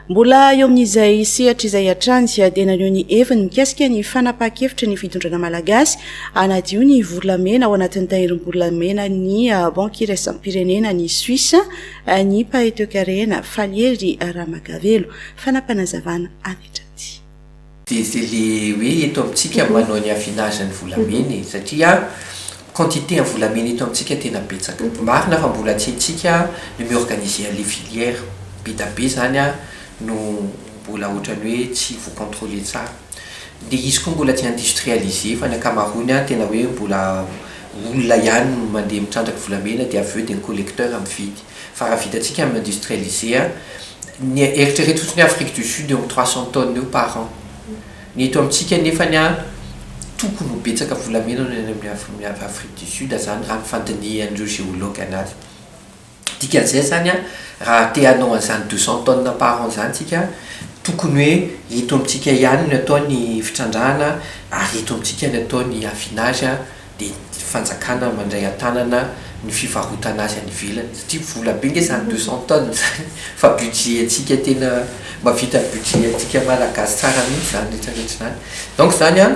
Mbola eo amin'izay sehatra izay hatrany dia naneho ny heviny mikasika ny fanapahan-kevitry ny fitondrana malagasy hanadio ny volamena ao anatin'ny tahirim-bolamena ny Banky iraisam-pirenena ny Suisse ny mpahay toekarena Falihery Ramagavelo. Fanapanazavana avy hatrany. Dia zay le hoe eto amintsika manao ny affinage ny volamena e, satria quantité ny volamena eto amintsika tena betsaka. Marina fa mbola tsy antsika ny mi organiser anle filière, be da be zany no mbola otrany hoe tsy vo controler tsara. Dia izy koa mbola tsy industrialiser fa ny ankamaroany tena hoe mbola olona ihany no mandeha mitrandraka volamena dia avy eo dia ny collecteur mividy. Fa raha vitantsika amin'ny industrialiser, ny eritrereto fotsiny hoe Afrique du Sud eo amin'ny trois cents tonnes eo par an. Ny eto amintsika nefany an, tokony ho betsaka volamena no any amin'ny Afrique du Sud izany raha ny fandinihan'ireo géologues anazy. Dikan'izay izany an, raha te hanao an'izany deux cents tonnes par an izany isika, tokony hoe eto amintsika ihany no atao ny fitrandrahana ary eto amintsika no atao ny affinage, dia ny fanjakana mandray an-tanana ny fivarotana azy any ivelany satria vola be nge zany deux cent tonnes zany fa budget antsika tena mavita ny budget antsika malagasy tsara mihintsy zany rehetra rehetra zany donc zany an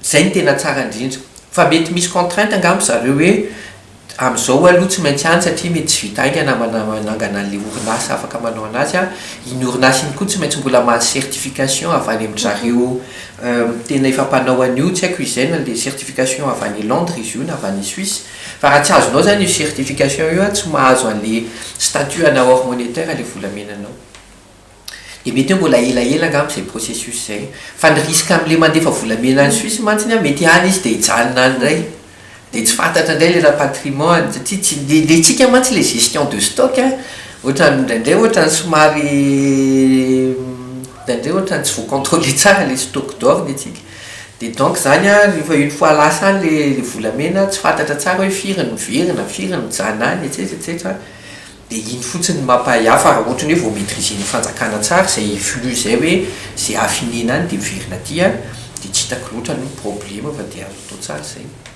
zay no tena tsara indrindra fa mety misy contrainte angamba zareo hoe Amin'izao aloha tsy maintsy any satria mety tsy vita haingana manangana an'ilay orinasa afaka manao an'azy an. Iny orinasa iny koa tsy maintsy mbola mahazo certification avy any amin-dry zareo tena efa mpanao an'io, tsy haiko izay na ilay certification avy any Londres izy io na avy any Suisse. Fa raha tsy azonao izany io certification io an, tsy mahazo an'ilay statut anao hors monétaire ilay volamenanao. Dia mety hoe mbola elaela angamba izay processus izay. Fa ny risque amin'ilay mandefa volamena any Suisse mantsy an, mety any izy dia hijanona any indray. Dia tsy fantatra indray ilay rapatriement-ny, satria tsy, ny ny antsika mantsy ilay gestion de stock an, ohatran'ny indraindray ohatran'ny somary indraindray ohatran'ny tsy voa-controler tsara ilay stock d'or ny antsika. Dia donc izany an, rehefa une fois lasa any ilay ilay volamena, tsy fantatra tsara hoe firy no miverina, firy no mijanona any, etsetra etsetra. Dia iny fotsiny no mampahay hafa raha ohatra hoe vao maitriser ny fanjakana tsara izay flux izay hoe izay hafinena any dia miverina aty dia tsy hitako loatra aloha ny probleme fa dia azo atao tsara izay.